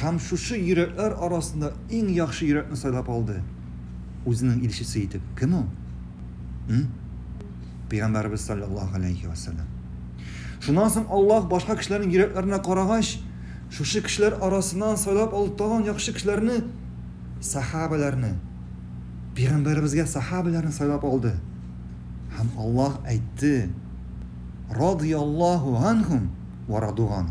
һәм шушы йөрәкләр арасында иң яхшы йөрәкне сайлап алды. Үзенең илчесе итеп. Кем ул? М? Пәйгамбәребез саллаллаһу алейхи ва саллям. Шуннан соң Аллаһ башка кешеләрнең йөрәкләренә карагач, шушы кешеләр арасыннан сайлап алды тагын яхшы кешеләрне, сахабаларны. Пәйгамбәребезгә сахабаларны сайлап алды. Һәм Аллаһ әйтте: "Радияллаһу анхум ва радуган".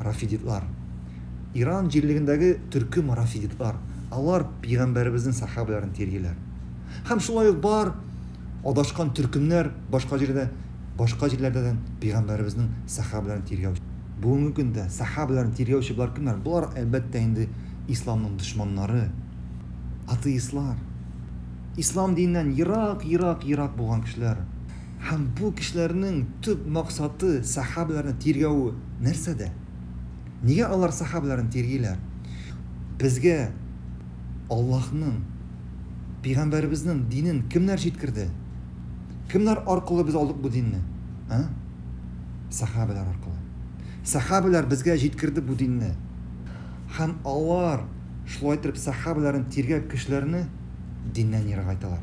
Рафидитлар. Иран җирлегендәге төркем рафидитлар. Алар пигамбәребезнең сахабәләрен тиргиләр. Һәм шулай ук бар адашкан төркемнәр башка җирдә, башка җирләрдә дә пигамбәребезнең сахабәләрен тиргәү. Бүгенге көндә сахабәләрен тиргәүче болар кемнәр? Болар, әлбәттә инде, исламның дошманнары, атеистлар, ислам диненнән ерак, ерак, ерак булган кешеләр. Һәм бу кешеләрнең төп максаты, сәхабәләрне тиргәве нәрсәдә? Нигә алар сәхабәләрне тиргиләр? Безгә Аллаһның, Пәйгамбәребезнең динен кемнәр җиткерде? Кемнәр аркылы без алдык бу динне? А? Сәхабәләр аркылы. Сәхабәләр безгә җиткерде бу динне. Һәм алар шулай итеп сәхабәләрен тиргәп кешеләрне диннән ерагайталар.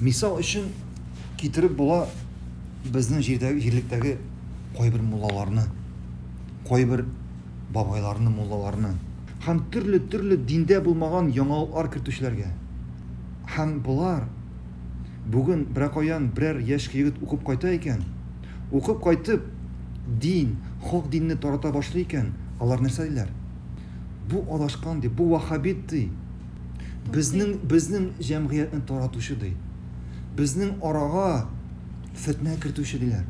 Мисал өчен китереп була безнең җирдәге җирлектәге кайбер муллаларны, кайбер бабайларны, муллаларны һәм төрле-төрле диндә булмаган яңалыклар кертүчеләргә. Һәм болар бүген беркаян берәр яшь егет укып кайта икән, укып кайтып, дин, хак динне тарата башлый икән, алар нәрсә диләр? Бу адашкан ди, бу вахабит ди. Безнең безнең җәмгыятьне таратучы ди. Безнең арага фетнә кертүче диләр.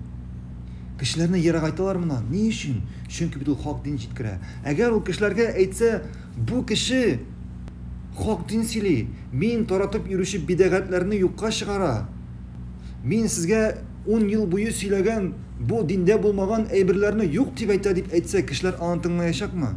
Кешеләрне ерагайталар мына. Ни өчен? Чөнки бит ул хак дин җиткерә. Әгәр ул кешеләргә әйтсә, бу кеше хак дин сөйли, мин таратып йөрүче бидәгатьләрне юкка чыгара. Мин сезгә 10 ел буе сөйләгән бу диндә булмаган әйберләрне юк дип әйтә дип әйтсә, кешеләр аны тыңлаячакмы?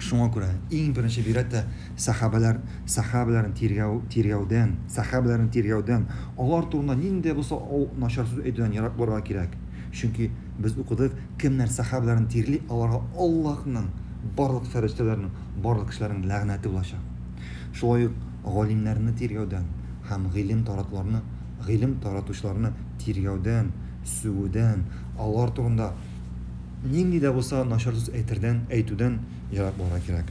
Шуңа күрә иң беренче бигрәк тә сәхабәләр, сәхабәләрен тиргәү, тиргәүдән, сәхабәләрен тиргәүдән, алар турында нинди дә булса ау, начар сүз әйтүдән ерак булырга кирәк. Чөнки без укыдык, кемнәр сәхабәләрен тирли, аларга Аллаһның, барлык фәрештәләрнең, барлык кешеләрнең ләгънәте булачак. Шулай ук галимнәрне тиргәүдән һәм гыйлем таратуларны, гыйлем таратучыларны тиргәүдән, сүгүдән, алар турында, нинди дә булса начар сүз әйтүдән ерак булырга кирәк.